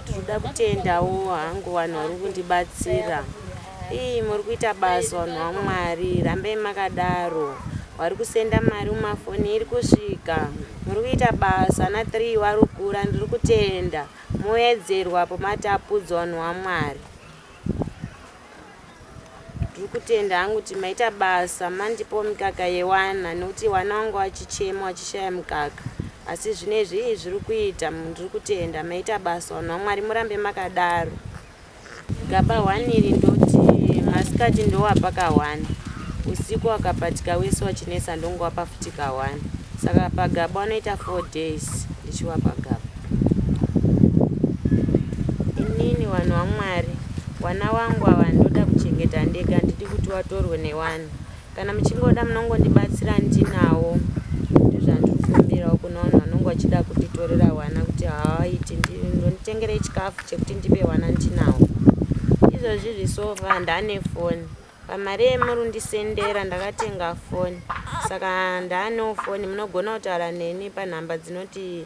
Ndoda kutendawo hangu vanhu vari kundibatsira. Ii muri kuita basa vanhu vaMwari, rambei makadaro. Wari kusenda mari mumafoni iri kusvika. Muri kuita basa ana 3 wari kukura ndiri kutenda. Moedzerwa apo matapudzwa vanhu vaMwari. Ndiri kutenda hangu kuti maita basa mandipo mikaka yewana nekuti wana wangu achichema achishaya mikaka asi zvino izvi ii zviri kuita ndiri kutenda maita basa vanhu vamwari murambe makadaro gaba hwani iri ndoti masikati ndowapa kahwani usiku wakapatika wese wachinetsa ndongowapa futi kahwani saka pagaba wanoita four days ndichiwapa gaba inini vanhu vamwari vana wangu ava ndoda kuchengeta ndega handidi kuti watorwe newanhu kana muchingoda munongondibatsira ndinawo ndozvandiri kumbirawo kuna vanhu vanonge vachida kunditorera wana kuti haaiti ndonditengerei chikafu chekuti ndipe wana ndinawo izvozvi zvisova ndane foni pamari yemurundisendera ndakatenga foni saka ndanewo foni munogona kutaura neni panhamba dzinoti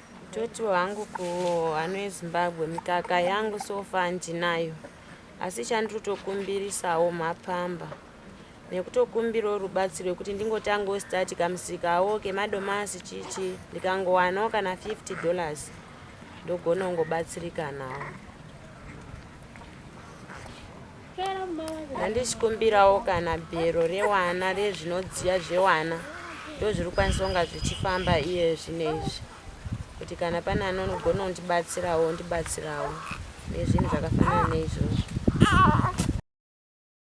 Toti hangu kuhano yezimbabwe mikaka yangu sofa ndinayo asi chanditotokumbirisawo mapamba nekutokumbirawo rubatsiro rwekuti ndingotangawo stati kamusikawo kemadomasi chichi ndikangowanawo kana 50 dollars ndogona kungobatsirikanawo handichikumbirawo kana bhero rewana rezvinodziya zvewana ndozviri kukwanisa kunga zvichifamba iye zvine izvi kuti kana pane anogona undibatsirawo undibatsirawo nezvinhu zvakafanana neizvozvo